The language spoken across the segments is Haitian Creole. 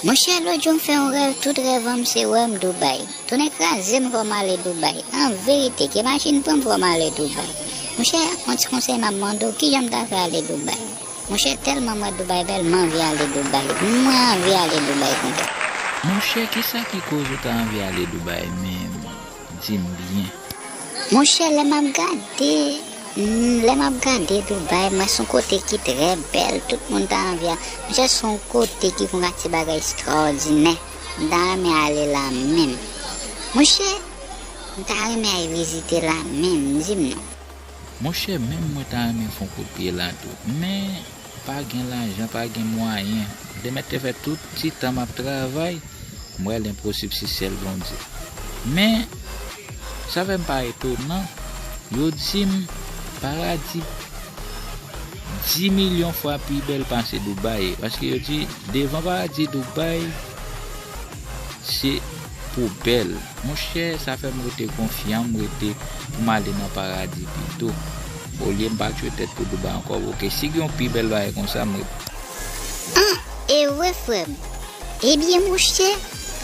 Monchè lòtjou m fè yon rèv tout rèvan m se wè m Dubai tonnè kraze m fò m ale Dubai anverite ke machin pran m fò m ale Dubai monchè yon ti konsèy map mande w kijan m ta fè ale Dubai monchè tèlman m wè Dubai bèl m anvi ale Dubai mwen anvi ale Dubai tande. Monchè kisa ki koz ou ta anvi ale Dubai menm. dim byen. Monchè lè map gade lè map gade Dubai mwen son kote ki trè bèl tout moun ta anvi al monchè son kote ki konn atire bagay extraordinè m ta renmen ale la menm monchè m ta renmen al vizite la menm dim non. Monchè menm mwen ta renmen fon kout pye la tou men pa gen lajan pa gen mwayen de mèt te fè tout ti tan map travay m wè lenposib si sèl Bondye men sa fèm pa etonan yo dim paradi di milyon fwa pi bèl pase Dubai paske yo di devan paradi Dubai se Poubèl. Monchè sa fè m rete konfyan m rete pou m ale nan paradi pito olye m pa tchwe tèt pou Dubai ankò ok si gen yon pi bèl bagay konsa m ret. An e wè frè m. Ebyen monchè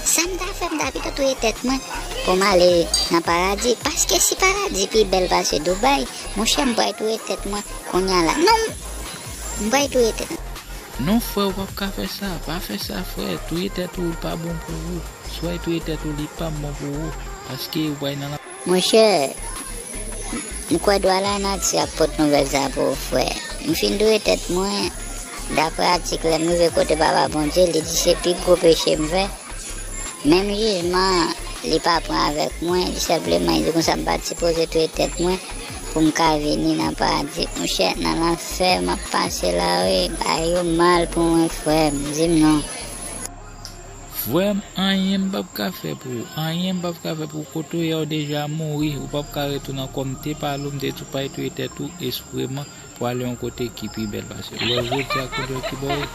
sa m ta fè m ta pito touye tèt mwen pou m ale nan paradi paske si paradi pi bèl pase Dubai monchè m pral touye tèt mwen kounya la non m M pral touye tèt mwen. Non frè ou pap ka fè sa, pa fè sa frè, touye tèt ou li pa bon pou ou, soy touye tèt ou li pap bon pou ou, paske ou pral nan. Monchè, m kwè dwa lanati ap pot nouvèl sa pou ou frè. M fin touye tèt mwen, daprè atik lè m rive kote Papa Bondye, li di se pi gwo peche m fè, menm jijman li pa pran avèk mwen, li senpleman li di konsa m pat sipoze touye tèt mwen. Poum ka vini nan paradi monchè nan lanfè map pase la wi bay yo mal pou mwen frèm dim non. Frèm anyen m pap ka fè pou ou anyen m pap ka fè pou ou kotoya ou deja mouri ou pap ka retounen ankò m te pale ou m te di ou pay touye tèt ou espreman pou ale yon kote ki pi bèl pase ou wè jodia koulè ki baw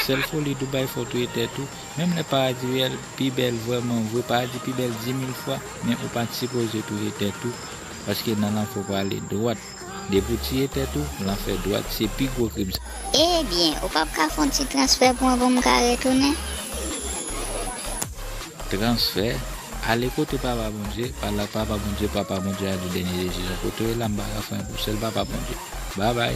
sèl foli Dubai fè w touye tèt ou menm lè paradi reyèl pi bèl vrèman vre paradi pi bèl dimil fwa men ou pat sipoze touye tèt ou Paske nan lanfè w prale dwat. Depi w tiye tèt ou, lanfè dwat. Se pi gwo krim sa. Ebyen, ou pap ka fon ti transfè pou mwen pou m ka retounen? Transfè? Ale kote Papa Bondye, pale ak Papa Bondye, Papa Bondye a di dènye desizyon. Kote w ye la m pa ka fè anyen pou sèl Papa Bondye. Babay!